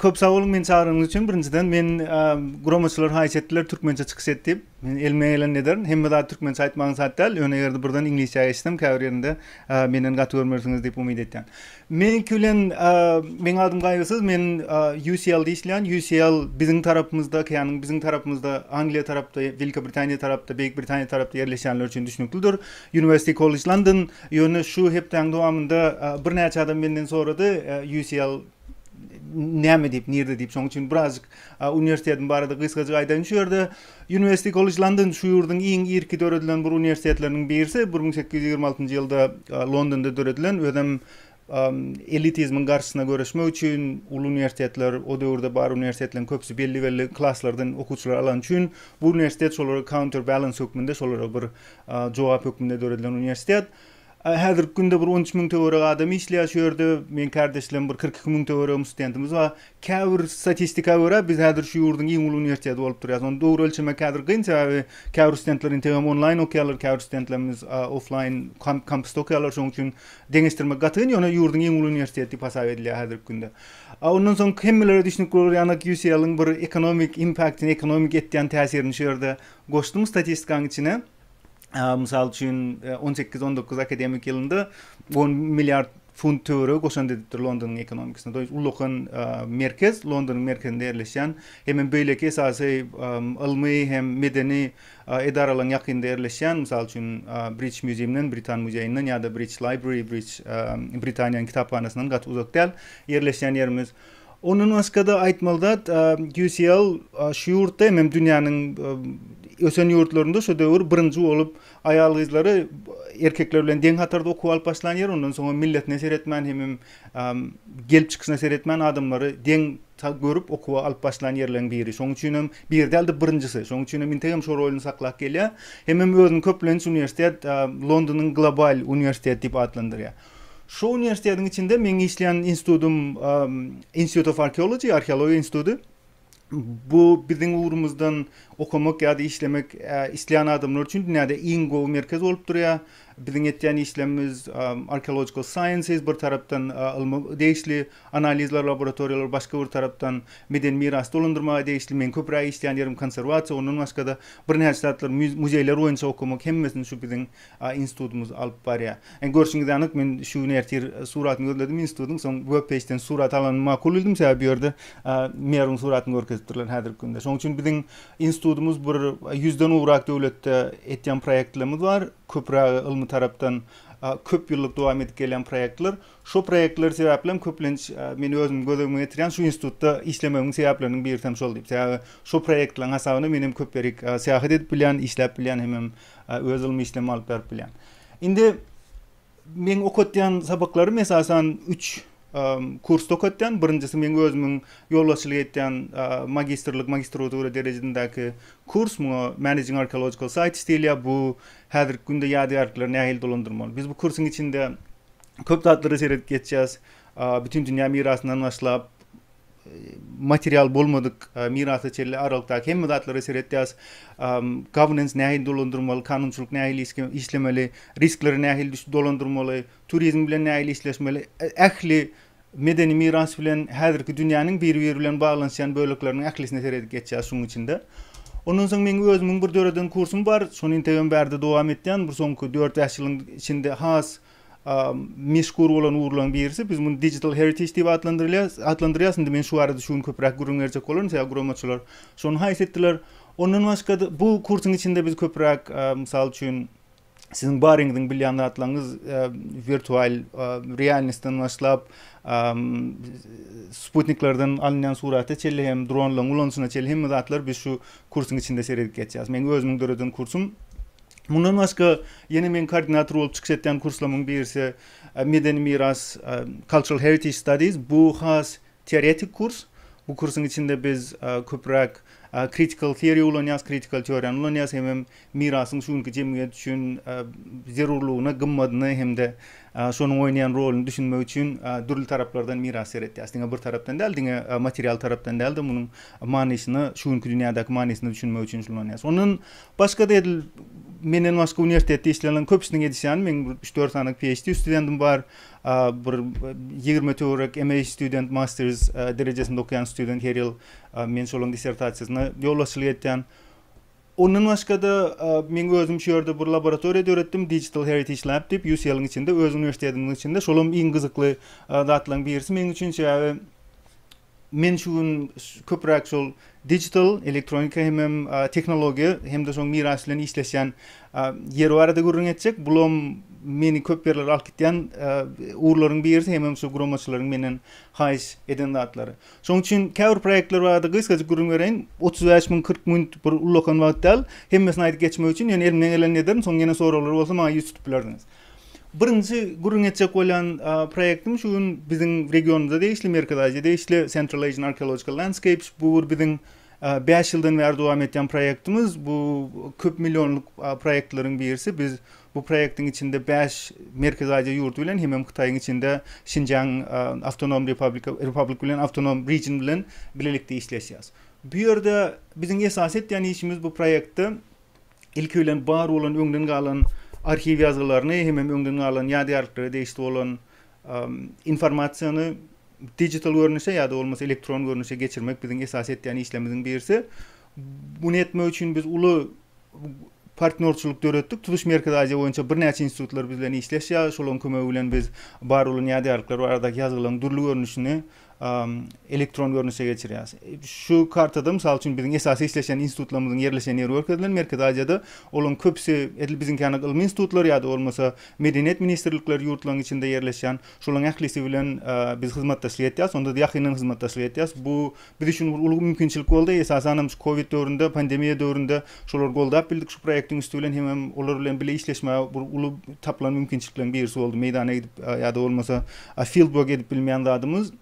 Köp sag boluň meni çagyranyňyz üçin. Birinjiden men guramaçylar haýyş etdiler türkmençe çykyş et diýip. Men elimden geleni ederin. Hemme zat türkmençe aýtmagyň saýt däl. Ýöne eger-de birden iňlisçä geçsem käbir ýerinde menden gaty görmersiňiz diýip umyt etýän. Meniňki bilen Meň adym Gaýgysyz, men UCL-de işleýän. UCL biziň tarapymyzda, okeanyň biziň tarapymyzda, Angliýa tarapda, Welikä Britaniýa tarapda, Beýik Britaniýa tarapda ýerleşýänler üçin düşnüklidir. University College London. Ýöne şu hepdäň dowamynda birnäçe adam menden sorady, UCL näme diýip, nirde diýip. Şoň üçin birazjyk uniwersitetiň barada gysgajyk aýdaýyn şu ýerde. University College London şu ýurduň iň irki döredilen bir uniwersitetleriniň birisi, bir müň sekiz ýüz ýigrimi altynjy ýylda Londonda döredilen, özem elitizmiň garşysyna göreşmek üçin uly uniwersitetler, o döwürde bar uniwersitetleriň köpüsi belli-belli klaslardan okuwçylary alany üçin bu uniwersitet şolara counter balance hökmünde, şolara bir jogap hökmünde döredilen uniwersitet. Häzirki günde bir on üç müň töweregi adam işleýär şu ýerde. Meň kärdeşlerim bir kyrk iki müň töweregim studentimiz bar. Käbir statistika görä biz häzir şu ýurduň iň uly uniwersiteti bolup durýas. Ony dogry ölçemek häzir gyn sebäbi käbir studentler integem onlaýn okýarlar, käbir studentlerimiz oflaýn kampusda okýarlar şoň üçin deňeşdirmek gaty gyn ýöne ýurduň iň uly uniwersiteti diýip hasap edilýär häzirki günde. Ondan soň hemmelere düşnükli bolar ýanak UCL-iň bir ekonomik impaktini ekonomik etýän täsirini şu ýerde goşdum statistikaň içine. mysal üçin, e, on sekiz, on dokuz akademik ýylynda on milliard funt töweregi goşant edipdir Londonyň ekonomikasyna. Doýuş ulakan e, merkez Londonyň merkezinde ýerleşýän hem hem beýleki esasy e, ylmy hem medeni e, edaralaryň ýakynda ýerleşýän, mysal üçin, British Museum-dan, Britan muzeýinden ýa-da British Library, British Britaniýanyň kitaphanasyndan gaty uzak däl ýerleşýän ýerimiz. Ondan başga-da aýtmaly zat, QCL şu ýurtda hem, hem dünýäniň ösen ýurtlarynda şu döwür birinji bolup aýal-gyzlary erkekler bilen deň hatarda okuw alyp başlan ýer, ondan soň hem milletine seretmän, hem, hem gelip çykyşyna seretmän adamlary deň görüp okuwa alyp başlan ýerleriň biri. Şonuň üçin hem biri däl-de birinjisi. Şonuň üçin hem intek hem şo rolyny saklap gelýär. Hem, hem özüni köplenç uniwersitet Londonyň global uniwersiteti diýip atlandyrýar. Şu uniwersitetiň içinde meň işleýän institutym Institute of Archaeology, arheologiýa instituty. Bu biziň ugrumyzdan okamak ýa-da işlemek isleýän adamlar üçin dünýäde iň gowy merkez bolup durýar. Biziň etýän işlerimiz archaeological sciences, bir tarapdan ylma degişli analizler, laboratoriýalar, başga bir tarapdan medeni mirasy dolandyrmaga degişli. Meň köpräk işleýän ýerim konserwasiýa, ondan başga-da birnäçe zatlar, muzeýler boýunça okamak, hemmesini şu biziň A institutymyz alyp barýar. Indi görşüňiz anyk, men şu gün ertir suratyny gözledim institutyň, soň web peýjden surat alanymy makul bildim, sebäbi bu ýerde merwiň suratyny görkezipdirler häzirki günde. Şonuň üçin biziň institutymyz bir ýüzden gowrak döwletde etýän proýektlerimiz bar, köpürägi ylmy tarapdan köp ýyllyk dowam edip gelýän proýektler. Şo proýektler sebäplem köplenç meni özümiň gözegime getirýän şu institutda işlemegimiň sebäpleriniň birisi hem şol diýip. Sebäbi şo proýektleriň hasabyna men hem köp ýerik syýahat edip bilýän, işläp bilýän hemem Öz ylmy işlemi alyp berip bilýän. Indi meň okatýan sabaklarym esasan üç kursda okatýan. Birinjisi meň özümiň ýolbaşçylyk etýän magistrlik, magistratura derejedindäki kurs. Muňa Managing Archaeological Sites diýilýär. Bu häzirki günde ýadygärlikleri nähili dolandyrmaly. Biz bu kursuň içinde köp zatlara seredip geçýäs. Bütindünýä mirasyndan başlap, material bolmadyk mirasa çenli aralykdaky hemme zatlara seretýäs. Governance nähili dolandyrmaly, kanunçylyk nähili işlemeli, riskleri nähili dolandyrmaly, turizm bilen nähili işleşmeli, ähli medeni miras bilen häzirki dünýäniň biri-biri bilen baglanyşýan bölekleriniň ählisine seredip geçýäs şunuň içinde. Ondan soň meň özümiň bir döreden kursum bar. Şony integem bärde dowam etýän. Bir soňky dört-bäş ýylyň içinde has meşhur bolan ugurlaryň birisi. Biz muny digital heritage diýip atlandyrýarys. Atlandyrýarys. Indi men şu barada şu gün köpräk gürrüň berjek bolaryn, sebäbi guramaçylar şony haýyş etdiler. Ondan başga-da bu kursuň içinde biz köpräk, mysal üçin, siziň baryňyzyň bilýän zatlaryňyz, wirtual realnostdan başlap, sputniklerden alynýan surata çenli hem dronlaryň ulanyşyna çenli hemme zatlary biz şu kursuň içinde seredip geçýäris. Meň özümiň döreden kursum Mundan başga, ýene meň koordinator bolup çykyş etýän kurslamyň birisi Medeni miras, Cultural Heritage Studies. Bu has teoretik kurs. Bu kursuň içinde biz köpräk Critical Theory ulanýarys, kritikal teoriýany ulanýarys, hemem mirasyň şu günki jemgyýet üçin zerurlygyny, gymmadyny hem-de şonuň oýnaýan roluny düşünmek üçin dürli taraplardan mirasa seretýäris. Diňe bir tarapdan däl, diňe material tarapdan däl-de, munuň manysyny, şu günki dünýädäki manysyny düşünmek üçin şuny ulanýarys. Ondan Başga-da edil menden başga uniwersitetde işleýänleriň köpüsiniň edişi ýaly meň bir üç-dört sany PHD studentim bar. Bir ýigrime töwerek MA student, masters derejesinde okaýan student her ýyl men şolaryň dissertasiýasyna ýolbaşçylyk etýän. Ondan başga-da meň özüm şu ýerde bir laboratoriýa döretdim, Digital Heritage Lab diýip, UCL-iň içinde, öz uniwersitetimiziň içinde. Şolam iň gyzykly zatlaryň birisi meň üçin, sebäbi Men şu gün köpräk şol digital, elektronika hemem tehnologiýa hem-de şoň miras bilen işleşýän ýer barada gürrüň etjek. Bulam meni köp ýerlere alyp gitýän ugurlaryň birisi hemem şu guramaçylaryň menden haýyş eden zatlary. Şoň üçin käbir proýektler barada gysgajyk gürrüň bereýin. Otuz bäş müň, kyrk müň bir ullakan wagt däl. Hemmesini aýdyp geçmek üçin ýöne elimden geleni ederin, soň ýene soraglar bolsa maňa ýüz tutup bilersiňiz. Birinji gürrüň etjek bolýan proýektim şu gün biziň regionymyza degişli, Merkezi Aziýa degişli Central Asian Archaeological Landscapes. Bu bir biziň bäş ýyldan bäri dowam etýän proýektimiz. Bu köp millionlyk proýektleriň birisi. Biz bu proýektiň içinde bäş Merkezi Aziýa ýurdy bilen hemem Hytaýyň içinde Şinjiang Awtonom Republic Republic bilen Awtonom Region bilen bilelikde işleşýäs. Bu ýerde biziň esasy etýän işimiz bu proýektde ilki bilen bar bolan öňden galan arhiw ýazgylaryny hemem öňden galan ýadygärliklere degişli bolan informasiýany digital görnüşe ýa-da bolmasa elektron görnüşe geçirmek biziň esasy etýän işlerimiziň birisi. Muny etmek üçin biz uly partnýorçylyk döretdik. Tutuş Merkezi Aziýa boýunça birnäçe institutlar biz bilen işleşýär. Şolaryň kömegi bilen biz bar bolan ýadygärlikler baradaky ýazgylaryň dürli görnüşini elektron görnüşe geçirýäris. Şu kartada, mysal üçin, biziň esasy işleşen institutlarymyzyň ýerleşen ýeri görkezilen, Merkezi Aziýada. Olaryň köpüsi edil biziňki ýaly ylmy institutlar ýa-da bolmasa medeniýet ministrlikleri ýurtlaryň içinde ýerleşýän. Şolaryň ählisi bilen biz hyzmatdaşlyk etýäris, onda-da ýakyndan hyzmatdaşlyk etýäris. Bu biz üçin bir uly mümkinçilik boldy. Esasan hem şu kowid döwründe, pandemiýa döwründe Şolar goldap bildik şu proýektiň üsti bilen hemem olar bilen bile işleşmäge bir uly tapylan mümkinçilikleriň birisi boldy. Meýdana gidip ýa-da bolmasa field work edip bilmeýän zadymyz,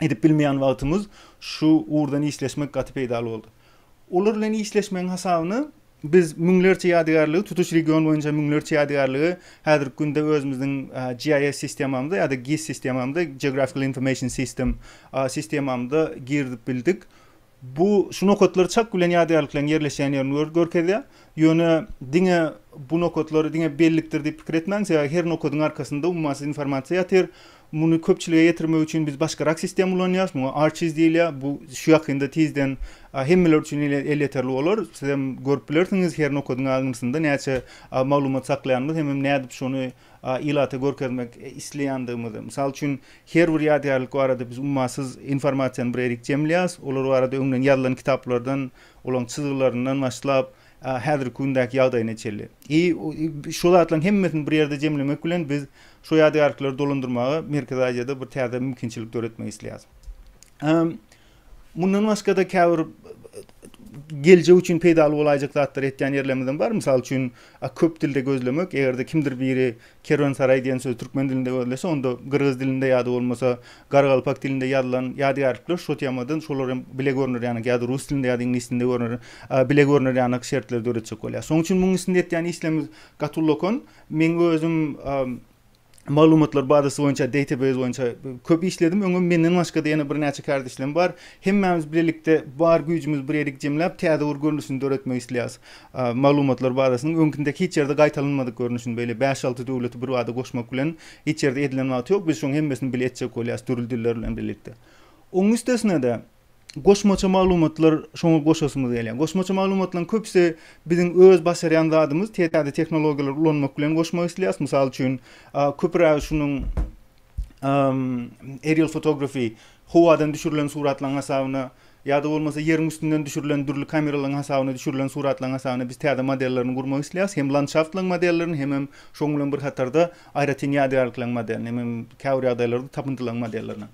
edip bilmeýän wagtymyz şu ugurdan işleşmek gaty peýdaly boldy. Olar bilen işleşmegiň hasabyna biz müňlerçe ýadygärligi tutuş region boýunça müňlerçe ýadygärligi häzirki günde özümiziň GIS sistemamyza ýa-da GIS sistemamyza, Geographical Information System, sistemamyza girizip bildik. Bu şu nokatlar çak bilen ýadygärlikleriň ýerleşýän ýerini görkezýär. Ýöne diňe bu nokatlar diňe bellikdir diýip pikir etmäň, sebäbi her nokadyň arkasynda ummasyz informasiýa ýatyr. Muny köpçülige ýetirmek üçin biz başgarak sistema ulanýarys, muňa Archies diýilýär. Bu şu ýakynda tizden hemmeler üçin elýeterli bolar. Sizem görüp bilersiňiz, her nokadyň aňyrsynda näçe maglumat saklaýanymyzy hemem nädip şony ilata görkezmek isleýändigimizi, mysal üçin, her bir ýadygärlik barada biz ummasyz informasiýany bir erik jemleýäris, olar barada öňden ýazylan kitaplardan, olaryň çyzgylaryndan başlap, häzirki gündäki ýagdaýyna çenli. I. Şu zatlaryň hemmesini bir ýerde jemlemek bilen biz şu ýadygärlikleri dolandyrmaga Merkezi Aziýada bir täze mümkinçilik döretmek isleýäris. Mundan başga-da käbir geljek üçin peýdaly bolaýjak zatlary etýän ýerlerimizem bar. Mysal üçin, köp dilde gözlemek, eger-de kimdir biri kerwensaraý diýen sözi türkmen dilinde gözlese, onda gyrgyz dilinde ýa-da bolmasa gargalpak dilinde ýazylan ýadygärlikler şu temadan, şolar hem bile görner ýanak ýa-da rus dilinde ýa-da iňlis dilinde görner, bile görner ýanak şertleri döretjek bolýar. Şonuň üçin munuň üstünde etýän işlerimiz gaty ulakan. Meň özüm, maglumatlar bazasy boýunça, database boýunça köp işledim. Öňem menden başga-da ýene birnäçe kärdeşlerim bar. Hemmämiz bilelikde bar güýjümizi bir ýerik jemläp, täze bir görnüşini döretmek isleýäris. Maglumatlar bazasynyň öňkündäki hiç ýerde gaýtalanmadyk görnüşini, beýle bäş-alty döwleti bir bada goşmak bilen hiç ýerde edilen wagty ýok. Biz şoň hemmesini bile etjek bolýarys, dürli diller bilen bilelikde. Oň üstesine-de, goşmaça maglumatlar şoňa goşasymyz gelýär. Goşmaça maglumatlaryň köpüsi biziň öz başarýan zadymyz, täze tehnologiýalary ulanmak bilen goşmak isleýäris. Mysal üçin, köpürägi şunuň aerial photography, howadan düşürilen suratlaryň hasabyna ýa-da bolmasa ýeriň üstünden düşürilen dürli kameralaryň hasabyna düşürilen suratlaryň hasabyna biz täze modellerini gurmak isleýäris. Hem landşaftlaryň modellerini, hemem şonuň bilen bir hatarda aýratyn ýadygärlikleriň modelini, hemem käbir ýagdaýlarda tapyndylaryň modellerini.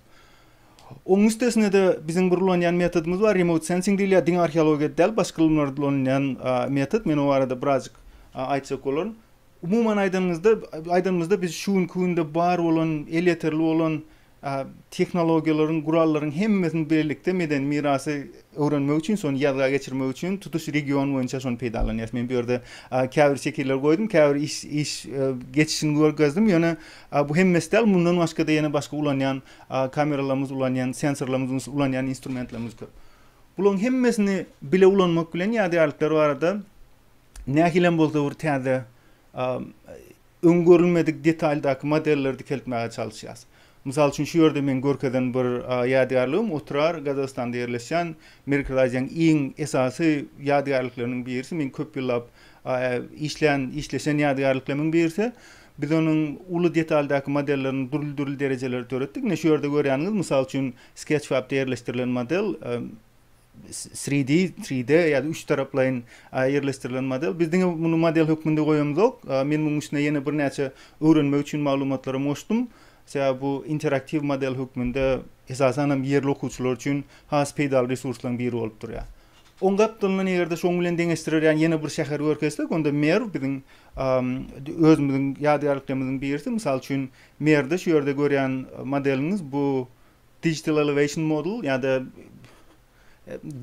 Oň üstesine-de biziň bir ulanýan metodymyz bar, remote sensing diýilýär, diňe arheologiýada däl, başga ylymlarda-da ulanylýan metod. Men o barada birazjyk aýtjak bolaryn. Umuman aýdanyňyzda, aýdanymyzda biz şu günki günde bar bolan, elýeterli bolan tehnologiýalaryň, gurallaryň hemmesini birlikde medeni mirasy öwrenmek üçin, şony ýazga geçirmek üçin tutuş region boýunça şony peýdalanýarys. Men bu ýerde käbir şekiller goýdum, käbir iş iş geçişini görkezdim. Ýöne bu hemmesi däl, mundan başga-da ýene başga ulanýan kameralarymyz ulanýan, sensorlarymyz ulanýan instrumentlerimiz köp. Bularyň hemmesini bile ulanmak bilen ýadygärlikler barada nähili hem bolsa bir täze öň görülmedik detaldaky modelleri dikeltmäge çalyşýarys. Mysal üçin şu ýerde men görkezen bir ýadygärligim Otrar Gazagystanda ýerleşýän Merkezaziýanyň iň esasy ýadygärlikleriniň birisi. Men köp ýyllap işlän, işleşen ýadygärliklerimiň birisi. Biz onuň uly detaldaky modellerini dürli-dürli derejelerde döretdik. Ine, şu ýerde görýäniňiz, mysal üçin, SketchFab-da ýerleşdirilen model, 3D, 3D, ýa-da üç taraplaýyn ýerleşdirilen model. Biz diňe muny model hökmünde goýamyzok. Men munuň üstüne ýene birnäçe öwrenmek üçin maglumatlar hem goşdum. Sebäbi bu interaktiw model hökmünde, esasan hem, ýerli okuwçylar üçin has peýdaly resurslaryň biri bolup durýar. Oň gapdalyndan eger-de şoň bilen deňeşdirerýän ýene bir şäher görkezsek, onda Merw biziň özümiziň ýadygärliklerimiziň birisi. Mysal üçin, Merwde şu ýerde görýän modeliňiz bu Digital Elevation Model ýa-da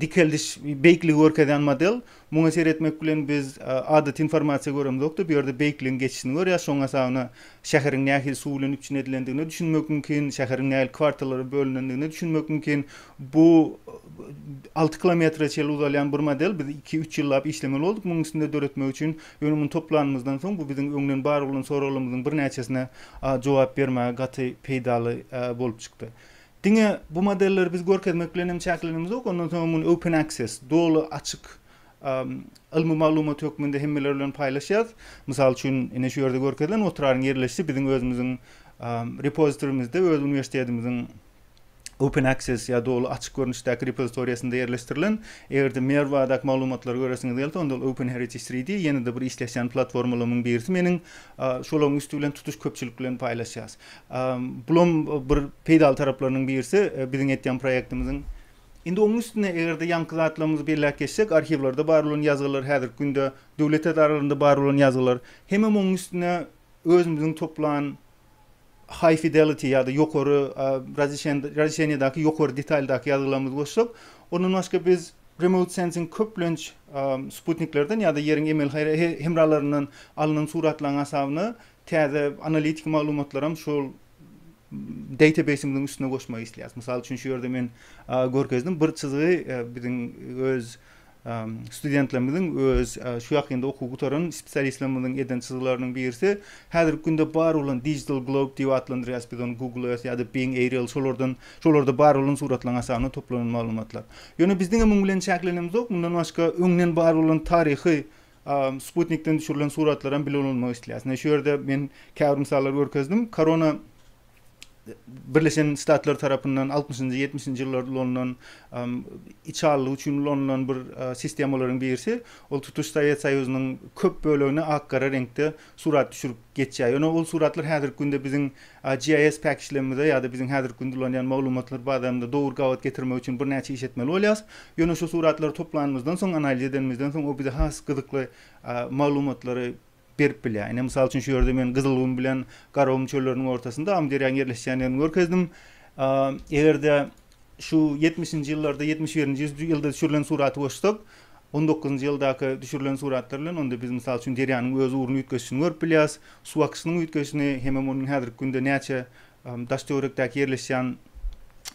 dikeldiş, beýikligi görkezýän model. Muňa seretmek bilen biz adaty informasiýa göremzok-da, bu ýerde beýikligiň geçişini görýäs. Şoň hasabyna şäheriň nähili suw bilen üpjün edilendigine düşünmek mümkin, şäheriň nähili kwartallara bölünendigine düşünmek mümkin. Bu alty kilometre çenli uzalýan bir model. Biz iki-üç ýyllap işlemeli bolduk munuň üstünde döretmek üçin. Ýöne muny toplanymyzdan soň bu biziň öňden bar bolan soraglarymyzyň birnäçesine jogap bermäge gaty peýdaly bolup çykdy. Diňe bu modelleri biz görkezmek bilen hem çäklenenimizok, ondan soň hem muny open access, doly açyk, ylmy maglumat hökmünde hemmeler bilen paýlaşýarys. Mysal üçin, ine şu ýerde görkezilen otraryň ýerleşişi biziň özümiziň repozitorymyzda, öz uniwersitetimiziň Open Access ýa doly açyk görnüşdäki repozitoriýasynda ýerleşdirilen. Eger-de Mer baradaky maglumatlary göresiňiz gelse, onda ol Open Heritage three D, ýene-de bir işleşýän platformalarymyň birisi meniň. Şolaryň üsti bilen tutuş köpçülik bilen paýlaşýas. Bulam bir peýdaly taraplarynyň birisi biziň etýän proýektimiziň. Indi onuň üstüne eger-de ýaňky zatlarymyzy belläp geçsek, arhiwlerde bar bolan ýazgylar, häzirki günde döwlet edaralarynda bar bolan ýazgylar, hemem onuň üstüne özümiziň toplan High Fidelity ýa-da ýokary razişeniýadaky ýokary detaldaky ýazgylarymyzy goşsak, ondan başga biz Remote Sensing köplenç sputniklerden ýa-da ýeriň emeli hemralaryndan alnan suratlaryň hasabyna täze analitiki maglumatlaram şol databaseimiziň üstüne goşmak isleýäris. Mysal üçin şu ýerde men görkezdim bir çyzgy biziň öz Studentlerimiziň öz şu ýakynda okuw gutaran spesialistlerimiziň eden çyzgylarynyň birisi, häzirki günde bar bolan Digital Globe diýip atlandyrýarys biz ony Google Earth ýa-da Bing Aerial şolardan şolarda bar bolan suratlaryň hasabynda toplanan maglumatlar. Ýöne biziň hem muň bilen çäklenmizok, mundan başga öňden bar bolan taryhy sputnikden düşürilen suratlaram bile ulanmak isleýäris. Ine şu ýerde men käbir mysallar görkezdim. Korona Birleşen Ştatlar tarapyndan altmyşynjy, ýetmişinji ýyllarda ulanylan içalylyk üçin ulanylan bir sistemalaryň birisi, ol tutuş Sowet Soýuzynyň köp bölegini ak-gara reňkde surat düşürip geçýär. Ýöne ol suratlar häzirki günde biziň GIS päkiçlerimize ýa-da biziň häzirki günde ulanýan maglumatlar bazarymyza dogry gabat getirmek üçin birnäçe iş etmeli bolýarys. Ýöne şu suratlary toplanymyzdan soň, analiz edenimizden soň, o bize has gyzykly maglumatlary berip bilýär. Ine, mysal üçin, şu ýerde men Gyzylgum bilen Garagum çölleriniň ortasynda Amyderýanyň ýerleşýändigini görkezdim. Eger-de şu ýetmişinji ýyllarda, ýetmiş birinji ýylda düşürilen suraty goşsak, on dokuzynjy ýyldaky düşürilen suratlar bilen, onda biz, mysal üçin, derýanyň öz ugruny üýtgeşişini görüp bilýäris, suw akyşynyň üýtgeşişini hemem onuň häzirki günde näçe daş-töwerekdäki ýerleşýän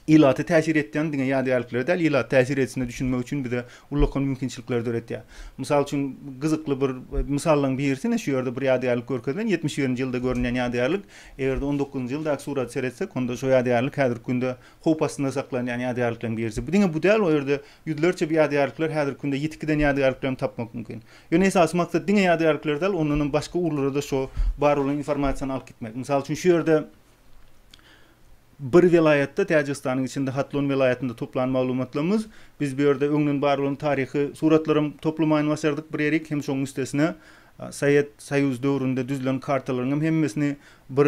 ilata täsir etýän diňe ýadygärliklere däl, ilata täsir edişine düşünmek üçin bize ullakan mümkinçilikleri döretýär. Mysal üçin, gyzykly bir mysallaryň birisi ine şu ýerde bir ýadygärlik görkezilen, ýetmiş birinji ýylda görünýän ýadygärlik. Eger-de on dokuzynjy ýyldaky surata seretsek, onda şo ýadygärlik häzirki günde howp astynda saklanýan ýadygärlikleriň birisi. Bu diňe bu däl, o ýerde ýüzlerçe bu ýadygärlikler häzirki günde ýitip giden ýadygärliklerem tapmak mümkin. Ýöne esasy maksat diňe ýadygärlikleri däl, ondanam başga ugurlara-da şo bar bolan informasiýany alyp gitmek. Mysal üçin, şu ýerde bir welaýatda, Täjigistanyň içinde Hatlon welaýatynda toplan maglumatlarymyz, biz bu ýerde öňden bar bolan taryhy suratlaram toplamaýyn başardyk bir ýerik, hem şoň üstesine Sowet Soýuz döwründe düzlen kartalaryňam hemmesini bir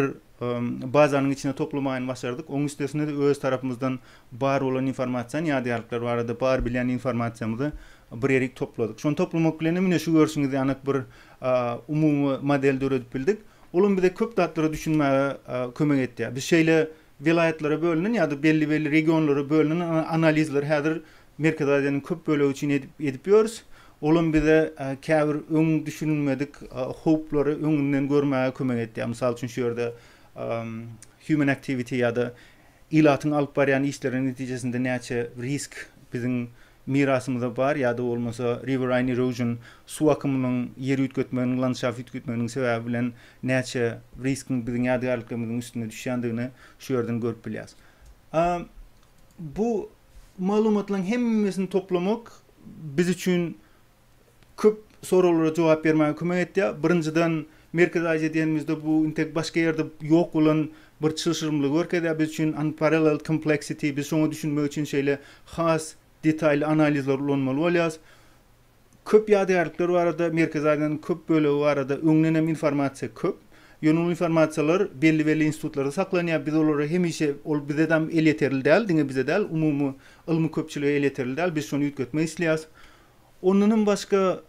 bazanyň içine toplamaýyny başardyk. Oň üstesine-de öz tarapymyzdan bar bolan informasion ýadýarlyklar barada bar bilýän informasiýamyzy bir ýerik topladyk. Şony toplamak bilen hem ine şu görşüňiz ýanak bir umumy model döredip bildik. Ol hem bize köp zatlara düşünmäge kömek etýär. Biz şeýle welaýatlara bölünen ýa-da belli-belli regionlara bölünen analizleri häzir Merkezi Aziýanyň köp bölegi üçin edip edip ýörüs. Olam bize käbir öň düşünilmedik howplary öňünden görmäge kömek etýär. Mysal üçin şu ýerde human activity ýa-da ilatyň alyp barýan işleriniň netijesinde näçe risk biziň mirasymyza bar ýa-da bolmasa riverine erosion suw akymynyň ýer üýtgetmeginiň landşaft üýtgetmeginiň sebäbi bilen näçe riskiň biziň ýadygärliklerimiziň üstüne düşýändigini şu ýerden görüp bilýäs. Bu Maglumatlaryň hemmesini toplamak biz üçin köp soraglara jogap bermäge kömek etýär. Birinjiden, Merkezi Aziýa diýenimizde bu intek başga ýerde ýok bolan bir çylşyrymlygy görkezýär biz üçin, unparalleled complexity, biz şoňa düşünmek üçin şeýle has detaýly analizleri ulanmaly bolýarys. Köp ýadygärlikler barada, Merkezi Aziýanyň köp bölegi barada öňden hem informasiýa köp. Ýöne ol informasiýalar belli-belli institutlarda saklanýar. Biz olara hemişe, ol bizedam elýeterli däl, diňe bize däl, umumy ylmy köpçülige elýeterli däl. Biz şony üýtgetmek isleýäs. Ondanam başga,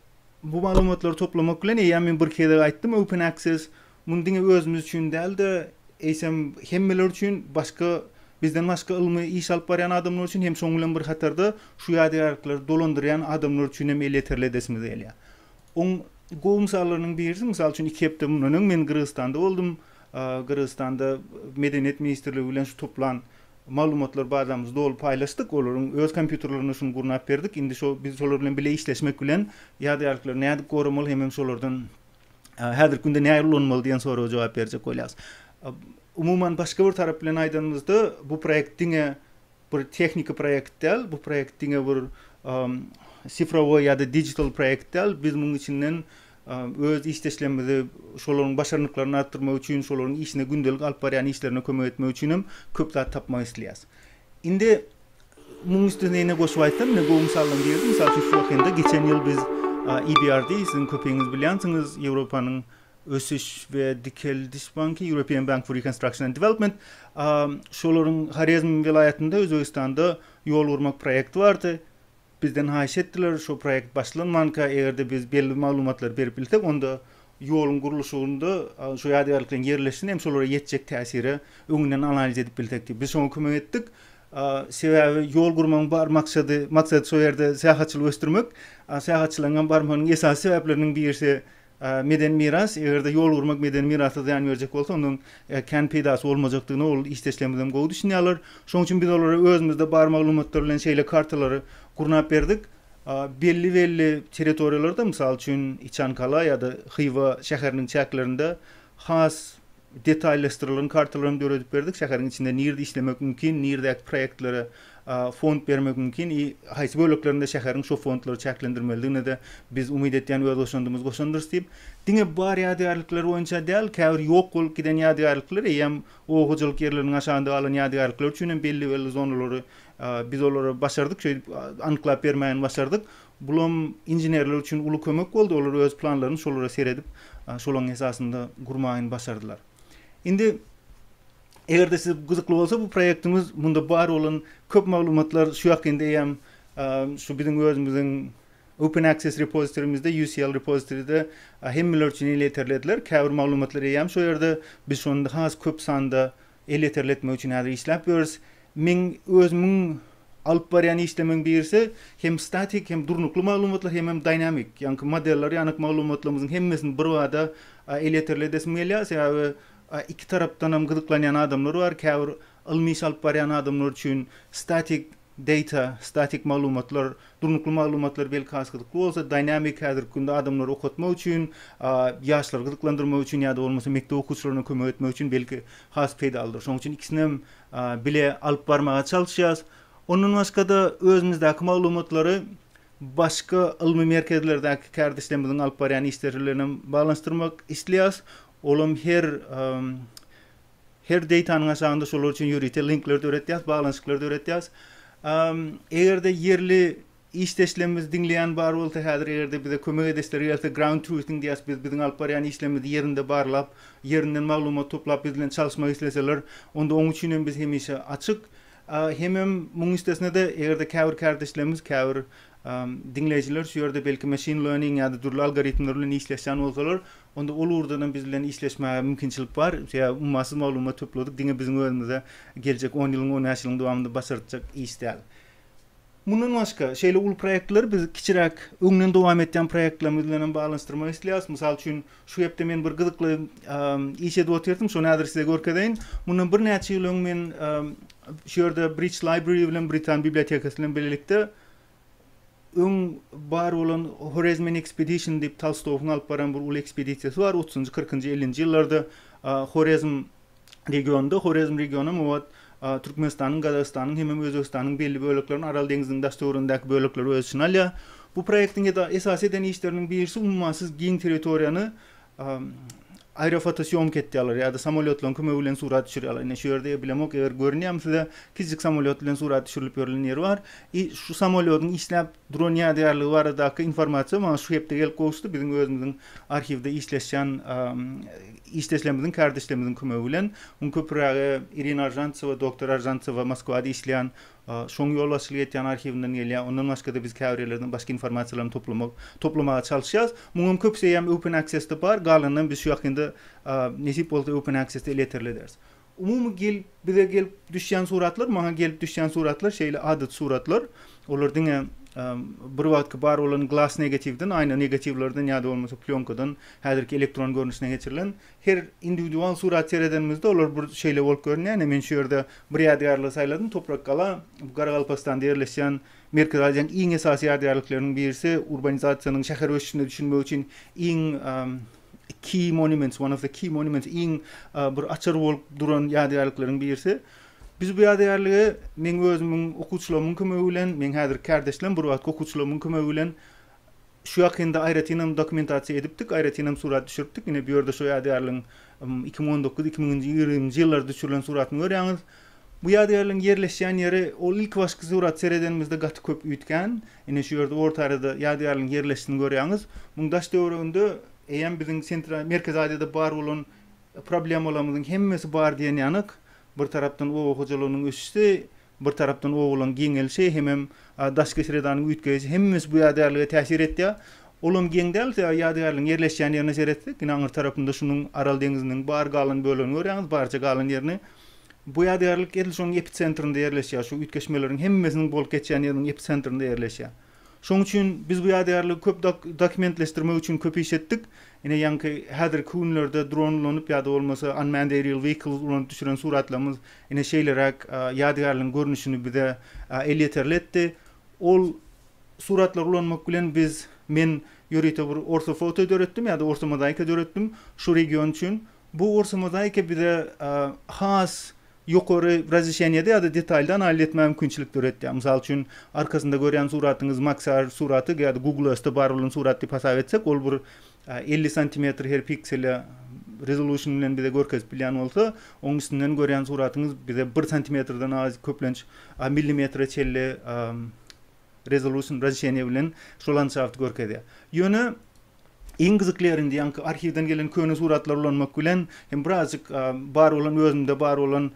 bu maglumatlary toplamak bilen, eýýäm men bir gezek aýtdym, Open Access Muny diňe özümiz üçin däl-de, eýsem, hemmeler üçin, başga, bizden başga ylmy iş alyp barýan adamlar üçin hem şonuň bilen bir hatarda şu ýadygärlikleri dolandyrýan adamlar üçin hem elýeterli edesimiz gelýär. Oň gowy mysallarynyň birisi, mysal üçin, iki hepde mundan öň men Gyrgyzystanda boldum. Gyrgyzystanda Medeniýet ministrligi bilen şu toplan maglumatlar bazamyzy doly paýlaşdyk. Olaryň öz kompýuterlerinde şuny gurnap berdik. Indi şo biz şolar bilen bile işleşmek bilen ýadygärlikleri nädip goramaly hemem şolardan Häzirki günde näleri ulanmaly diýen soraga jogap berjek bolýarys. Umuman başga bir tarap bilen aýdanymyzda bu proýekt diňe bir tehniki proýekt däl, bu proýekt diňe bir sifrowy ýa-da digital proýekt däl. Biz munuň içinden öz işdeşlerimizi şolaryň başarnyklaryny artdyrmak üçin, şolaryň işine gündelik alyp barýan işlerine kömek etmek üçin hem köp zat tapmak isleýäris. Indi Munuň üstüne ýene goşup aýtsam, mine gowy mysaldan girdi. Mysal üçin, şu wekende geçen ýyl biz EBRD, siziň köpiňiz bilýänsiňiz, Ýewropanyň ösüş we dikeldiş banky, European Bank for Reconstruction and Development, şolaryň Horezm welaýatynda, Özbegistanda ýol gurmak proýekti bardy. Bizden haýyş etdiler, şo proýekt başlanmanka eger-de biz belli maglumatlary berip bilsek, onda ýoluň gurluşygynda şo ýadygärlikleriň ýerleşişini hem şolara ýetjek täsiri öňünden analiz edip bilsek diýip, biz şoňa kömek etdik. Sebäbi ýol gurmagyň bar maksady, maksat şo ýerde syýahatçylygy ösdürmek. Syýahatçylaryň hem barmagynyň esasy sebäpleriniň birisi Medeni miras, eger-de ýol gurmak medeni mirasa zyýan berjek bolsa, onda onuň kän peýdasy bolmajakdygyna ol işdeşlerimiz hem gowy düşünýärler. Şonuň üçin biz olara özümizde bar maglumatlar bilen şeýle kartalary gurnap berdik. Belli-belli territoriýalarda, mysal üçin, Içankala ýa-da Hywa şäheriniň çäklerinde has Detaýlaşdyrylan kartalary hem döredip berdik. Şäheriň içinde nirde işlemek mümkin, nirdäki proýektlere fond bermek mümkin i haýsy böleklerinde şäheriň şo fondlary çäklendirmelidigine-de biz umyt etýän öz goşandymyzy goşandyrys diýip, diňe bar ýadygärlikler boýunça däl, käbir ýok bolup giden ýadygärlikler, eýýäm oba hojalyk ýerleriniň aşagynda galan ýadygärlikler üçin hem belli-belli zonalary biz olary başardyk şeýdip anyklap bermäni başardyk. Bulam inženerler üçin uly kömek boldy, olar öz planlaryny şolara seredip, şolaň esasynda gurmaýyny başardylar. Indi eger-de size gyzykly bolsa bu proýektimiz, munda bar bolan köp maglumatlar şu ýak indi eýýäm şu biziň özümiziň Open Access Repository-mizde, UCL Repository-de hemmeler üçin elýeterli ediler. Käbir maglumatlar eýýäm şo ýerde, biz şony indi has köp sanda Elýeterli etmek üçin häzir işläp ýörüs. Meň özümiň alyp barýan işlemiň birisi hem statik, hem durnukly maglumatlar, hemem dynamic, ýaňky modeller ýanyk maglumatlarymyzyň hemmesini birbada elýeterli edesim gelýär. Sebäbi iki tarapdanam gyzyklanýan adamlar bar. Käbir ylmy iş alyp barýan adamlar üçin statik Data, statik maglumatlar, durnukly maglumatlar belki has gyzykly bolsa, dynamic häzirki günde adamlary okatmak üçin, ýaşlary gyzyklandyrmak üçin ýa-da bolmasa mekdep okuwçylaryna kömek etmek üçin belki has peýdalydyr. Şonuň üçin ikisinem bile alyp barmaga çalyşýarys. Ondan başga-da özümizdäki maglumatlary başga ylmy merkezlerdäki kärdeşlerimiziň alyp barýan işleri bilen hem baglanyşdyrmak isleýäris. Olam her Her datanyň aşagynda şolar üçin ýörite linkler döretýäs, baglanyşyklar döretýäs. Eger-de ýerli işdeşlerimizi diňleýän bar bolsa, häzir eger-de bize kömek edeslere gelse, Ground Truthing diýýäs biz, biziň alyp barýan işlerimizi ýerinde barlap, ýerinden maglumat toplap biz bilen çalyşmak isleseler, onda oň üçin hem biz hemişe açyk. Hemem muň üstesine-de eger-de käbir kärdeşlerimiz, käbir diňleýjiler şu ýerde belki machine learning ýa-da dürli algoritmler bilen işleşýän bolsalar, Onda ol ugurdanam biz bilen işleşmäge mümkinçilik bar. Sebäbi ummasyz maglumat topladyk, diňe biziň özümize geljek on ýylyň, on bäş ýylyň dowamynda başartjak iş däl. Mundan başga, şeýle uly proýektleri biz kiçiräk, öňden dowam etýän proýektlerimiz bilen hem baglanyşdyrmak isleýäris. Mysal üçin, şu hepde men bir gyzykly iş edip otyrdym, şony häzir size görkezeýin. Mundan birnäçe ýyl öň men şu ýerde Bridge Library bilen, Britan bibliotekasy bilen bilelikde öň bar bolan Horezmin Expedition diýip Tolstowyň alyp baran bir uly ekspedisiýasy bar otuzynjy, kyrkynjy, ellinji ýyllarda Horezm regionynda, Horezm regionam obat Türkmenistanyň, Gazagystanyň hemem Özbegistanyň belli böleklerini Aral deňziniň daş-töweregindäki bölekleri öz içine alýar. Bu proýektiň esasy eden işleriniň birisi ummasyz giň territoriýany Aerofotosyomka etýärler ýa-da samolýotlaryň kömegi bilen surat düşürýärler. Ine, şu ýerde bilemok, eger görünýärmi size, kiçijik samolýot bilen surat düşürilip ýörlen ýeri bar. I şu samolýodyň işläp duran ýadygärligi baradaky informasiýa maňa şu hepde gelip gowuşdy. Biziň özümiziň arhiwde işleşýän işdeşlerimiziň, kärdeşlerimiziň kömegi bilen. Muň köpürägi Irina Aržantsewa, doktor Aržantsewa Moskwada işleýän. Şoň ýolbaşçylyk etýän arhiwinden gelýär. Ondan başga-da biz käbir ýerlerden başga informasiýalaryny toplamak, toplamaga çalyşýas. Muňam köpüsi eýýäm Open Access-de bar, galanynam biz şu ýakynda nesip bolsa Open Access-de elýeterli ederis. Umumy gelip, bize gelip düşýän suratlar, maňa gelip düşýän suratlar şeýle adaty suratlar. Olar diňe bir wagtky bar bolan glass negatiwden, aýna negatiwlerden ýa-da bolmasa plýonkadan häzirki elektron görnüşine geçirilen Her indiwidual surat seredenimizde olar bir şeýle bolup görünýär. Ine, men şu ýerde bir ýadygärligi saýladym. Toprak gala, bu Garagalpakstanda ýerleşýän Merkezi Aziýanyň iň esasy ýadygärlikleriniň birisi. Urbanizasiýanyň şäher ösüşine düşünmek üçin iň key monuments, one of the key monuments, iň bir açar bolup duran ýadygärlikleriň birisi. Biz bu ýadygärligi meň özümiň okuwçylarymyň kömegi bilen, meň häzirki kärdeşlerim, bir wagtky okuwçylarymyň kömegi bilen Şu ýakynda aýratynam dokumentasiýa edipdik, aýratynam surat düşüripdik. Ine, bu ýerde şu ýadygärligiň iki müň on dokuz, iki müň ýigriminji ýyllarda düşürilen suratyny görýäňiz. Bu ýadygärligiň ýerleşýän ýeri, ol ilkibaşky suraty seredenimizde gaty köp üýtgän. Ine, şu ýerde orta arada ýadygärligiň ýerleşişini görýäňiz. Muň daş-töwereginde eýýäm biziň Sentral, Merkezi Aziýada bar bolan problemalarymyzyň hemmesi bar diýen ýanak. Bir tarapdan oba hojalygynyň ösüşi, Bir tarapdan owalan geňelişi hemem daşky sredanyň üýtgäýişi hemmesi bu ýadygärlige täsir etýär. Olam geň däl ýadygärligiň ýerleşýän ýerine seretsek ine aňyr tarapynda şunuň Aral deňiziniň bar galan bölegini görýäňiz barja galan ýerini. Bu ýadygärlik edil şonuň episentrinde ýerleşýär şu üýtgeşmeleriň hemmesiniň bolup geçýän ýeriniň episentrinde ýerleşýär. Şonuň üçin biz bu ýadygärligi köp dokumentleşdirmek üçin köp iş etdik. Ine, ýaňky häzirki günlerde dron ulanyp ýa-da bolmasa unmanned aerial vehicles ulanyp düşüren suratlarymyz ine şeýleräk ýadygärligiň görnüşini bize elýeterli etdi. Ol suratlary ulanmak bilen biz, men ýörite bir ortofoto döretdim ýa-da ortomozaika döretdim şu region üçin. Bu ortomozaika bize has ýokary razişeniýede ýa-da detalda analiz etmäge mümkinçilik döretýär. Mysal üçin, arkasynda görýän suratyňyz Maxar suraty ýa-da Google Earth-de bar bolan surat diýip hasap etsek, ol bir elli santimetr her piksele resolution bilen bize görkezip bilýän bolsa, onuň üstünden görýän suratyňyz bize bir santimetrden az, köplenç, millimetre çenli Resolution, razişeniýe, bilen şu landşafty görkezýär. Ýöne iň gyzykly ýeri indi ýaňky arhiwden gelen köne suratlary ulanmak bilen hem birazjyk bar bolan özümde bar bolan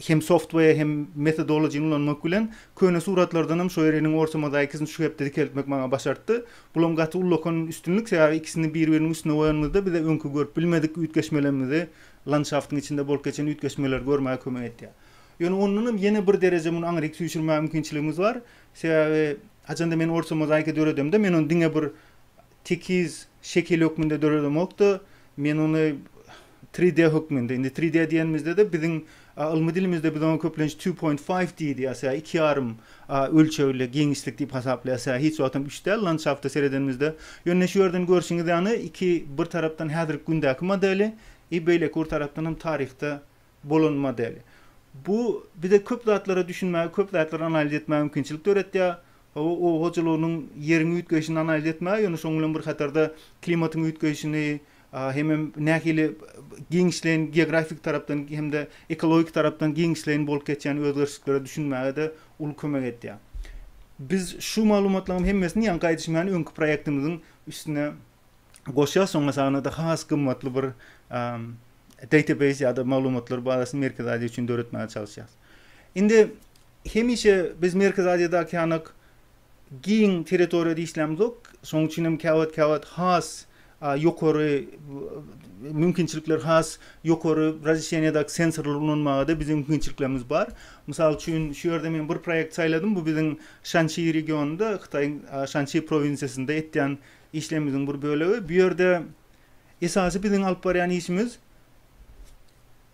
hem software hem methodology-ny ulanmak bilen köne suratlardan hem şo ýeri iniň orta mozaikasyn şu hepde dikeltmek maňa başartdy. Bulam gaty ullakan üstünlik sebäbi ikisini bir-biriniň üstüne goýanymyzda bize öňki görüp bilmedik üýtgeşmelerimizi landşaftyň içinde bolup geçen üýtgeşmeleri görmäge kömek etýär. Ýöne ondanam ýene bir dereje muny aňryk süýşürmäge mümkinçiligimiz bar. Sebäbi haçanda men orta mozaika döredemde, men ony diňe bir tekiz şekil hökmünde döredemok-da, men ony tri D hökmünde, indi tri D diýenimizde-de biziň ylmy dilimizde biz oňa köplenç two point five D diýýäs, ýa iki ýarym ölçegli giňişlik diýip hasaplaýas, ýa hiç wagtam üç däl landşafta seredenimizde. Ýöne şu ýerden görşüňiz ýaly, iki bir tarapdan häzirki gündäki modeli, i beýleki bir tarapdanam taryhda bolan model. Bu bize köp zatlara düşünmäge, köp zatlary analiz etmäge mümkinçilik döretýär. Howa hojalygynyň ýeriň üýtgeýşini analiz etmäge, ýöne şonuň bilen bir hatarda klimatyň üýtgeýşini hemem nähili giňişleýin geografik tarapdan hem-de ekologik tarapdan giňişleýin bolup geçýän özgerişliklere düşünmäge-de uly kömek edýär. Biz şu maglumatlaryň hemmesini ýaňky aýdyşym ýaly öňki proýektimiziň üstüne goşýar, soňra saňada has gymmatly bir database ýa-da maglumatlar bazasyny Merkezi Aziýa üçin döretmäge çalyşýarys. Indi hemişe biz Merkezi Aziýadaky ýanak giň territoriýada işlämzok, şoň üçin hem käwagt-käwagt has ýokary mümkinçilikler has ýokary razişeniýadaky sensorlary ulanmaga-da biziň mümkinçiliklerimiz bar. Mysal üçin, şu ýerde men bir proýekt saýladym, bu biziň Şansi regionynda, Hytaýyň Şansi prowinsiýasynda etýän Işlerimiziň bir bölegi. Bu ýerde esasy biziň alyp barýan işimiz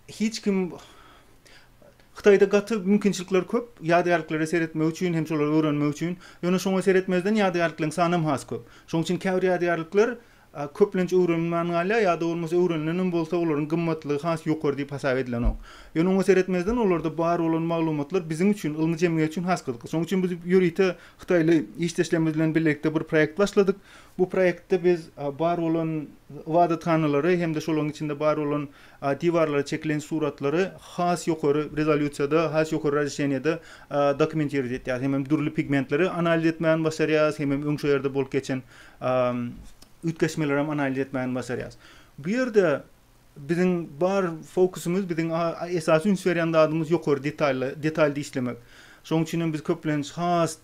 hiç kim Hytaýda gaty mümkinçilikler köp, ýadygärliklere seretmek üçin hem şolary öwrenmek üçin. Ýöne şoňa seretmezden ýadygärlikleriň sany hem has köp. Şoň üçin käbir ýadygärlikler köplenç öwrenilmän galýar ýa-da bolmasa öwrenilen hem bolsa olaryň gymmatlygy has ýokary diýip hasap edilenok. Ýöne oňa seretmezden olarda bar bolan maglumatlar biziň üçin, ylmy jemgyýet üçin has gyzykly. Şoň üçin biz ýörite Hytaýly işdeşlerimiz bilen bilelikde bir proýekt başladyk. Bu proýektde biz bar bolan ybadathanalary hem-de şolaryň içinde bar bolan diwarlara çekilen suratlary has ýokary rezolýusiýada, has ýokary razişeniýede dokumentirowat etýäris. Hemem dürli pigmentleri analiz etmäni başarýarys, hemem öň şo ýerde bolup geçen üýtgeşmelerem analiz etmäni başarýarys. Bu ýerde Biziň bar fokusymyz, biziň esasy üns berýän zadymyz ýokary detalda, detalda işlemek. Şonuň üçin hem biz köplenç has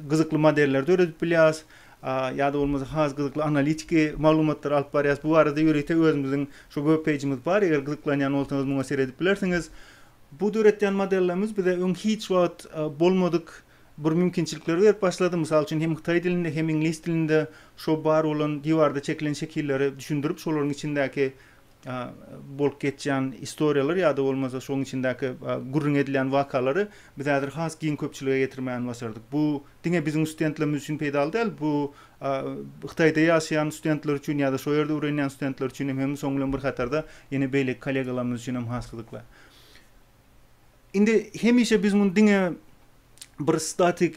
gyzykly modeller döredip bilýäs, ýa-da bolmasa has gyzykly analitiki maglumatlary alyp barýas. Bu barada ýörite özümiziň şu web peýjimiz bar, eger gyzyklanýan bolsaňyz muňa seredip bilersiňiz. Bu döretýän modellerimiz bize öň hiç wagt bolmadyk bir mümkinçilikler berip başlady, mysal üçin hem hytaý dilinde hem iňlis dilinde şo bar bolan diwarda çekilen şekilleri düşündirip şolaryň içindäki bolup geçýän istoriýalar ýa-da bolmasa şoň içindäki gürrüň edilýän wakalary biz häzir has giň köpçülige ýetirmäni başardyk. Bu diňe biziň studentlerimiz üçin peýdaly däl, bu hytaýda ýaşaýan studentler üçin ýa-da şo ýerde öwrenýän studentler üçin hem hem soň bilen bir hatarda ýene beýleki kollegalarymyz üçin hem has gyzykly. Indi hemişe biz muny diňe bir statik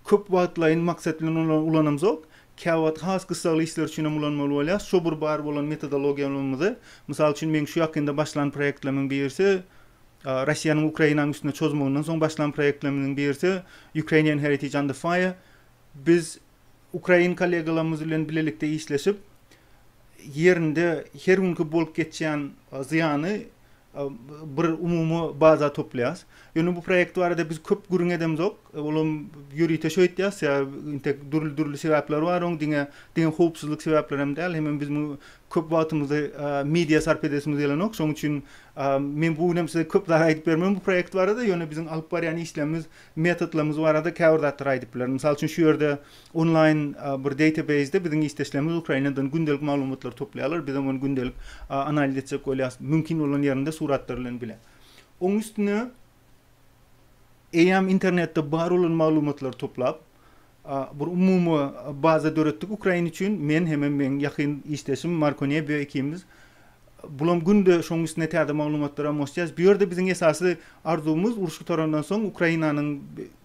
köp wagtlaýyn maksat bilen ulanamzok. Käwagt has gyssagly işler üçin hem ulanmaly bolýar. Şo bir bar bolan metodologiýamyzy, mysal üçin meň şu ýakynda başlan proýektlerimiň birisi, Russiýanyň Ukrainanyň üstüne çozmagyndan soň başlan proýektlerimiziň birisi Ukrainian Heritage Under Fire. Biz Ukrain kollegalarymyz bilen bilelikde işleşip, ýerinde her günki bolup geçýän zyýany bir umumy baza toplaýarys. Ýöne bu proýekt barada biz köp gürrüň edemzok. Olam ýörite şu aýtýarys, intek dürli-dürli sebäpleri bar oň, diňe diňe howpsuzlyk sebäpleri hem däl. Hemem biz muňa köp wagtymyzy, media sarp edesimiz gelenok. Şoň üçin men bu gün hem size köp zat aýdyp bermen bu proýekt barada, ýöne biziň alyp barýan işlerimiz Metodlarymyz barada käbir zatlary aýdyp bilerin. Mysal üçin şu ýerde onlaýn bir database-de biziň işdeşlerimiz Ukrainadan gündelik maglumatlary toplaýarlar, bizem ony gündelik analiz etjek bolýarys, mümkin bolan ýerinde suratlar bilen bile. Oň üstüne eýýäm internetde bar bolan maglumatlary toplap, Bir umumy baza döretdik Ukraina üçin. Men hemem meň ýakyn işdeşim Marko Nebio ikimiz. Bulam günde şoň üstüne täze maglumatlara moştaýaç. Bu ýerde biziň esasy arzuwymyz uruş gutarandan soň Ukrainanyň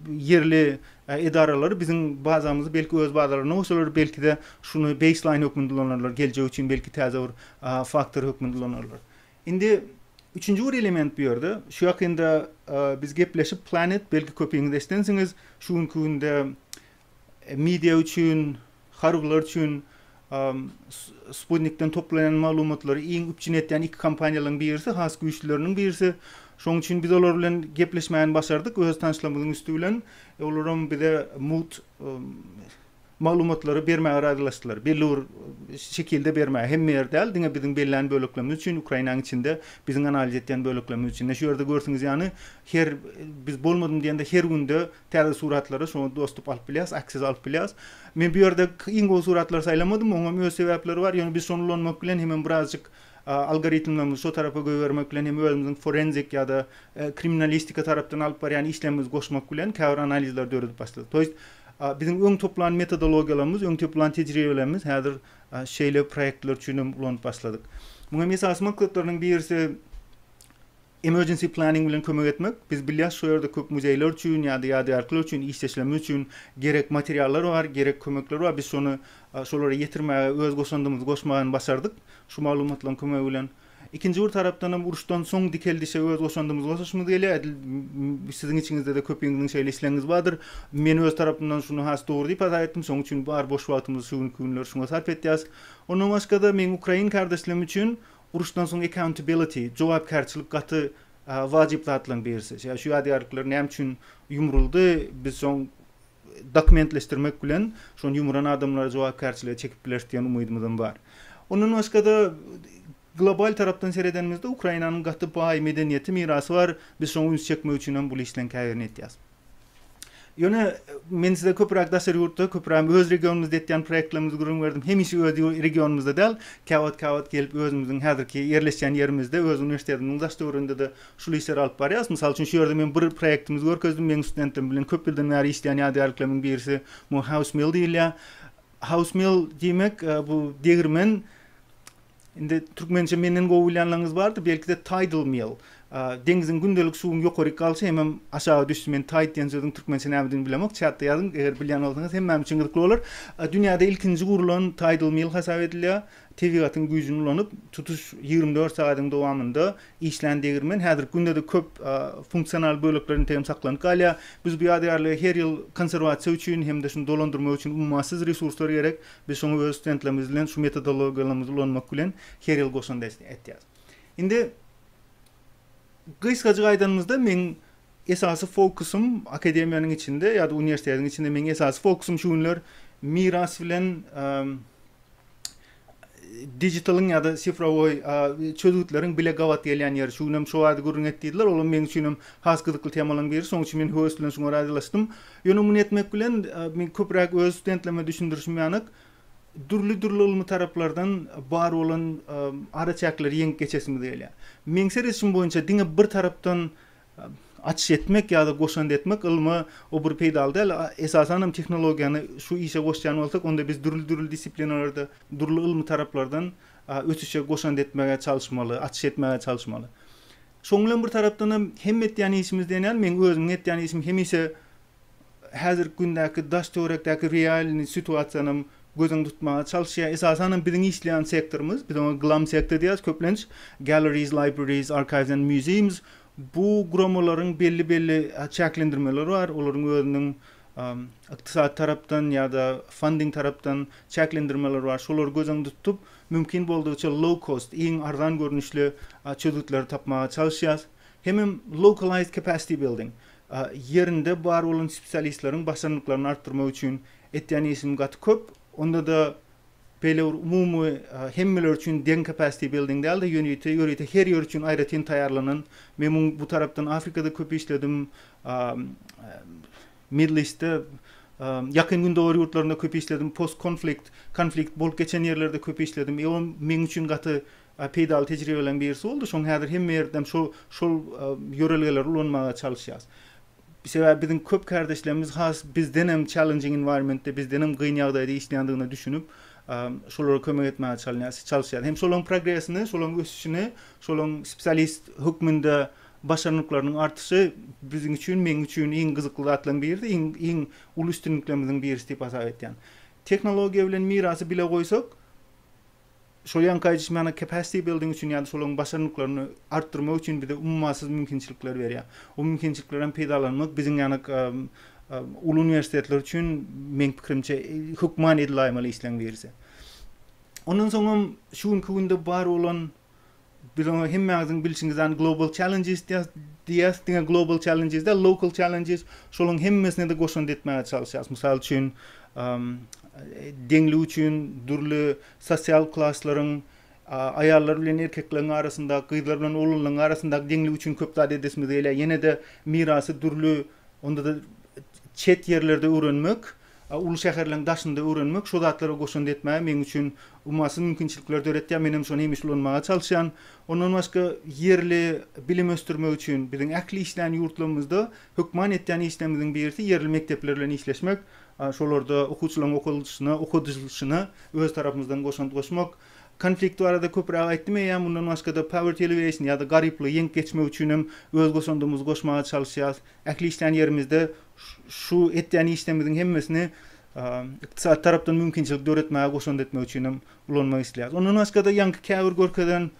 ýerli edaralary biziň bazamyzy belki öz bazalaryna goşarlar, belkide şuny baseline hökmünde ulanarlar, geljek üçin belki täze bir faktor hökmünde ulanarlar. Indi üçünji bir element bu ýerde, şu ýakynda biz gepleşip Planet, belki köpiňiz eşidensiňiz, şu günki günde media üçin, harbylar üçin sputnikden toplanan maglumatlary iň üpjün etýän iki kompaniýalaryň birisi, has güýçlüleriniň birisi. Şonuň üçin biz olar bilen gepleşmäni başardyk öz tanyşlygymyzyň üsti bilen. Olaram bize mugt maglumatlary bermäge razylaşdylar. Belli bir şekilde bermäge, hemme ýer däl, diňe biziň bellän böleklerimiz üçin, Ukrainanyň içinde biziň analiz etýän böleklerimiz üçin. Ine şu ýerde görsüňiz ýany, her biz bolmadym diýende her günde täze suratlary şoňa dostup alyp bilýäs, access alyp bilýäs. Men bu ýerde iň gowy suratlary saýlamadym, oňam öz sebäpleri bar, ýöne biz şony ulanmak bilen hemem birazjyk algoritmlerimizi şo tarapa goýbermek bilen hem özümiziň forenzik ýa-da kriminalistika tarapdan alyp barýan işlerimizi goşmak bilen käbir analizleri döredip başladyk. To ýest Biziň öň toplan metodologiýalarymyz, öň toplan tejribelerimiz häzir şeýle proýektler üçin hem ulanyp başladyk. Muň hem esasy maksatlarynyň birisi emergency planning bilen kömek etmek. Biz bilýäs, şu ýerde köp muzeýler üçin ýa-da ýadygärlikler üçin işdeşlememiz üçin gerek materiallar bar, gerek kömekler bar. Biz şony şolara ýetirmäge öz goşandymyzy goşmaga hem başardyk şu maglumatlaryň kömegi bilen. Ikinji bir tarapdan hem uruşdan soň dikeldişe öz goşandymyzy goşasymyz gelýär. Edil siziň içiňizde-de köpüňiziň şeýle islegiňiz bardyr. Men öz tarapymdan şuny has dogry diýip hasap etdim. Şonuň üçin bar boş wagtymyzy şu günki günler şuňa sarp etýäs. Ondan başga-da meň ukrain kardeşlerim üçin uruşdan soň accountability, jogapkärçilik gaty wajyp zatlaryň birisi. Şu ýadygärlikler näme üçin ýumruldy? Biz soň dokumentleşdirmek bilen şony ýumran adamlary jogapkärçilige çekip bileris diýen umydymyzam bar. Ondan başga-da, global tarapdan seredenimizde Ukrainanyň gaty baý medeniýeti, mirasy bar. Biz şoňa üns çekmek üçin hem bul işleň käbirini etýäs. Ýöne men size köpüräk daşary ýurtda, köpüräm öz regionymyzda etýän proýektlerimizi gürrüň berdim. Hemişe öz regionymyzda däl, käwagt-käwagt gelip özümiziň häzirki ýerleşýän ýerimizde, öz uniwersitetimiziň daş-töwereginde-de Şul işleri alyp barýarys. Mysal üçin, şu ýerde men bir proýektimizi görkezdim. Meň studentlerim bilen köp ýyldan bäri işleýän ýadygärliklerimiň birisi muňa house mill diýilýär. House mill diýmek, bu degirmen, indi türkmençe menden gowy bilýänleriňiz bardyr, belki-de tidal mill. Deňziň gündelik suwuň ýokaryk galşy hemem aşaga düşşi. Men tide diýen sözüň türkmençe nämedigini bilemok. Çatda ýazyň, eger bilýän bolsaňyz hemmämiz üçin gyzykly bolar. Dünýäde ilkinji gurlan tidal mill hasap edilýär. Tebigatyň güýjüni ulanyp, tutuş ýigrimi dört sagadyň dowamynda işlän degirmen häzirki günde-de köp funksional bölekler integem saklanyp galýar. Biz bu ýadygärligi her ýyl konserwasiýa üçin hem-de şuny dolandyrmak üçin ummasyz resurslar gerek. Biz şoňa öz studentlerimiz bilen şu metodologiýalarymyzy ulanmak bilen her ýyl goşant ätýäris. Indi gysgajyk aýdanymyzda, meň Esasy fokusym akademiýanyň içinde ýa-da uniwersitetiň içinde meň esasy fokusym şu günler miras bilen digitalyň ýa-da sifrowoý çözgütleriň bile gabat gelýän ýeri. Şu günem şo barada gürrüň et diýdiler. Olam meň üçin hem has gyzykly temalaryň biri. Şonuň üçin men höwes bilen şuňa razylaşdym. Ýöne muny etmek bilen men köpräk öz studentlerime düşündirişim ýalyk dürli-dürli ylmy taraplardan bar bolan araçäkleri ýeňip geçesimiz gelýär. Meň seredişim boýunça diňe bir tarapdan Açyş etmek ýa-da goşant etmek ylma o bir peýdaly däl. Esasan hem tehnologiýany şu işe goşýan bolsak, onda biz dürli-dürli dissiplinalerde, dürli ylmy taraplardan ösüşe goşant etmäge çalyşmaly, açyş etmäge çalyşmaly. Şoň bilen bir tarapdan hem, hem etýän işimiz diýen ýaly, meň özümiň etýän işim hemişe häzirki gündäki daş-töwerekdäki realnyý situasiýanam göz öňünde tutmaga çalyşýar. Esasanam biziň işleýän sektorymyz, biz oňa GLAM sektor diýýäs köplenç, Galleries, Libraries, Archives and Museums, bu guramalaryň belli-belli çäklendirmeleri bar, olaryň özüniň ykdysady tarapdan ýa-da funding tarapdan çäklendirmeleri bar. Şolary göz öňünde tutup, mümkin boldugyça low cost, iň arzan görnüşli çözgütleri tapmaga çalyşýarys. Hemem localized capacity building, ýerinde bar bolan spesialistleriň başarnyklaryny artdyrmak üçin etýän işim gaty köp. Onda-da beýle bir umumy hemmeler üçin deň capacity building däl-de, ýörite, ýörite her ýer üçin aýratyn taýýarlanan. Men muň bu tarapdan Afrikada köp işledim, Middle East-de, Ýakyn Gündogar ýurtlarynda köp işledim, post-konflikt, konflikt bolup geçen ýerlerde köp işledim. Meň üçin gaty peýdaly tejribeleriň birisi boldy. Şoň häzir hemme ýerdem şo şol ýörelgeleri ulanmaga çalyşýas. Sebäbi biziň köp kärdeşlerimiz has bizdenem challenging environmentde, bizdenem gyn ýagdaýda işleýändigine düşünip, şolara kömek etmäge çalynýas, çalyşýas. Hem şolaryň progresini, şolaryň ösüşini, şolaryň spesialist hökmünde başarnyklarynyň artyşy biziň üçin, meň üçin iň gyzykly zatlaryň biridi, iň iň uly üstünliklerimiziň birisi diýip hasap etýän. Tehnologiýa bilen mirasy bile goýsak, Şol ýaňky aýdyşym ýaly capacity building üçin ýa-da şolaryň başarnyklaryny artdyrmak üçin bize ummasyz mümkinçilikler berýär. O mümkinçiliklerden peýdalanmak biziň ýaly uly uniwersitetler üçin meň pikirimçe hökman edil aýmaly işleň birisi. Ondan soňam şu günki günde bar bolan Biz oňa hemmäňiziň bilşiňiz ýaly Global Challenges diýýäs. Diňe Global Challenges däl, Local Challenges. Şolaryň hemmesine-de goşant etmäge çalyşýarys. Mysal üçin, deňlik üçin dürli sosial klaslaryň, aýallar bilen erkekleriň arasyndaky, gyzlar bilen oglanlaryň arasyndaky deňlik üçin köp zat edesimiz gelýär. Ýene-de mirasy dürli, onda-da çet ýerlerde öwrenmek. A uly şäherleň daşynda öwrenmek şo zatlara goşant etmäge meň üçin ummasyz mümkinçilikler döretýär, men hem şony hemişe ulanmaga çalyşýan. Ondan başga ýerli bilim ösdürmek üçin biziň ähli işleýän ýurtlarymyzda hökman etýän işlerimiziň birisi ýerli mekdepler bilen işleşmek, şolarda okuwçylaryň okalyşyna, okadylyşyna öz tarapymyzdan goşant goşmak. Konflikt barada köpräk aýtdym eýýäm, mundan başga-da poverty alleviation ýa-da garyplygy ýeňip geçmek üçin hem öz goşandymyzy goşmaga çalyşýarys. Ähli işleýän ýerimizde Şu etýän işlerimiziň hemmesini ykdysady tarapdan mümkinçilik döretmäge goşant etmek üçin hem ulanmak isleýäris. Ondan başga-da ýaňky käbir görkezen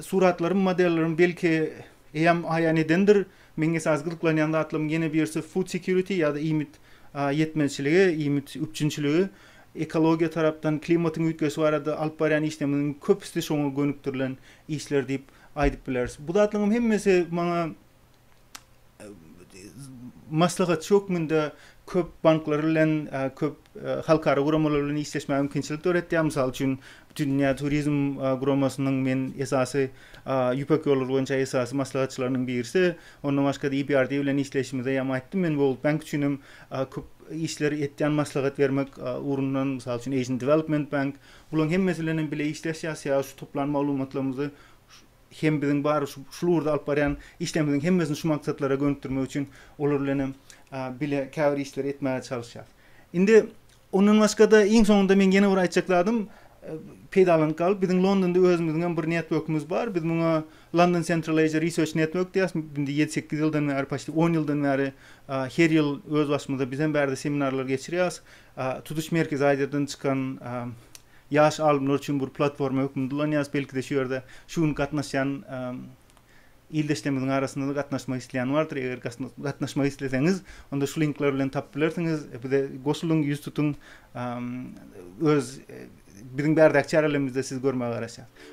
suratlarym, modellerim belki eýýäm aýan edendir. Meň esasy gyzyklanýan zatlarymyň ýene birisi food security ýa-da iýmit ýetmezçiligi, iýmit üpjünçiligi. Ekologiýa tarapdan, klimatyň üýtgeşi barada alyp barýan işlerimiziň köpüsi şoňa gönükdirilen işler diýip aýdyp bileris. Bu zatlaryň hemmesi maňa maslahatçy hökmünde köp banklar bilen, köp halkara guramalar bilen işleşmäge mümkinçilik döretýär. Mysal üçin, Bütindünýä turizm guramasynyň men esasy Ýüpek ýollary boýunça esasy maslahatçylarynyň birisi. Ondan başga-da EBRD bilen işleýşimizde ýam aýtdym. Men World Bank üçin hem köp işler etýän maslahat bermek ugrundan. Mysal üçin, Asian Development Bank. Bularyň hemmesi bilen hem bile işleşýäs. Sebäbi şu toplan maglumatlarymyzy hem biziň bar şul ugurda alyp barýan işlerimiziň hemmesini şu maksatlara gönükdirmek üçin olar bilen hem bile käbir işleri etmäge çalyşýarys. Indi ondan başga-da iň soňunda meň ýene bir aýtjak zadym, peýdalanyp galyp, biziň Londonda özümiziň hem bir networkimiz bar. Biz muňa London Central Asia Research Network diýýäris. Indi ýedi-sekiz ýyldan bäri, paçti on ýyldan bäri her ýyl öz başymyza biz hem bärde seminarlar geçirýäris. Tutuş Merkezi Aziýadan çykan Ýaş alymlar üçin bir platforma hökmünde ulanýarys. Belki-de şu ýerde şu gün gatnaşýan ildeşlerimiziň arasynda-da gatnaşmak isleýän bardyr. Eger gatnaşmak isleseňiz, onda şu linkler bilen tapyp bilersiňiz. Bize goşulyň, ýüz tutuň. Öz biziň bärdäki çärelerimizi-de sizi görmäge garaşýarys.